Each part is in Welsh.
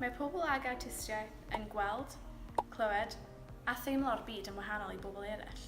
Mae pobl ag awtistiaeth yn gweld, clywed a theimlo'r byd yn wahanol i bobl eraill.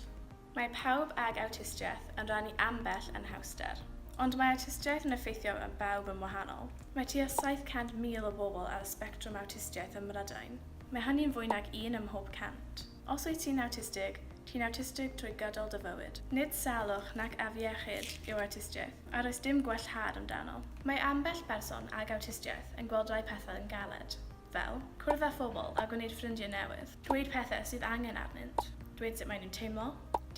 Mae pawb ag awtistiaeth yn rhannu ambell anhawster, ond mae awtistiaeth yn effeithio ar bawb yn wahanol. Mae tua 700,000 o bobl ar y sbectrwm awtistiaeth ym Mhrydain. Mae hynny'n fwy nag un ym mhob cant. Os wyt ti'n awtistig, ti'n awtistig trwy gydol dy fywyd. Nid salwch nac afiechyd yw awtistiaeth, a does dim gwellhad amdano. Mae ambell berson ag awtistiaeth yn gweld rhai pethau yn galed, fel, cwrdd â phobl a gwneud ffrindiau newydd, dweud pethau sydd angen arnynt, dweud sut maen nhw'n teimlo,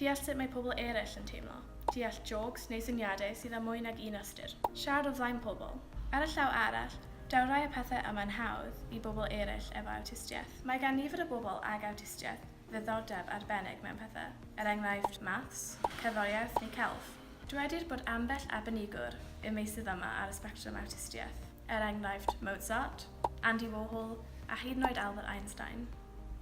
deall sut mae pobl eraill yn teimlo, deall jôcs neu syniadau sydd â mwy nag un ystyr, siarad o flaen pobl. Ar y llaw arall, daw rhai o'r pethau yma'n hawdd i bobl eraill efo awtistiaeth. Mae gan nifer o bobl ag awtistiaeth ddiddordeb arbennig mewn pethau, er enghraifft, maths, cerddoriaeth neu celf. Dywedir bod ambell arbenigwr y meysydd yma ar y sbectrwm awtistiaeth, er enghraifft, Mozart, Andy Warhol a hyd yn oed Albert Einstein.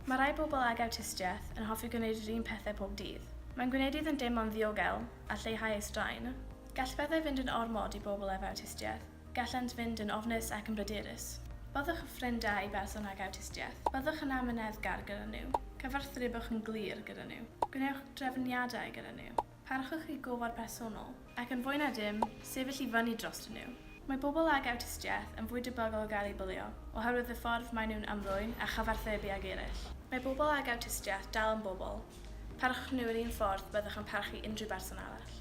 Mae rhai pobl ag awtistiaeth yn hoffi gwneud yr un pethau pob dydd. Mae'n gwneud iddynt deimlo'n ddiogel a lleihau eu straen. Gall pethau fynd yn ormod i bobl ef awtistiaeth. Gallant fynd yn ofnus ac yn bryderus. Byddwch yn ffrind da i berson ag awtistiaeth. Byddwch yn amyneddgar gyda nhw. Cyfathrebwch yn glir gyda nhw. Gwnewch drefniadau gyda nhw. Parchwch eu gofod personol. Ac yn fwy na dim, sefyll i fyny drostyn nhw. Mae pobl ag awtistiaeth yn fwy debygol o gael eu bwlio oherwydd y ffordd maen nhw'n ymddwyn a chyfathrebu ag eraill. Mae pobl ag awtistiaeth dal yn bobl. Parchwch nhw yr un ffordd byddwch yn parchu unrhyw berson arall.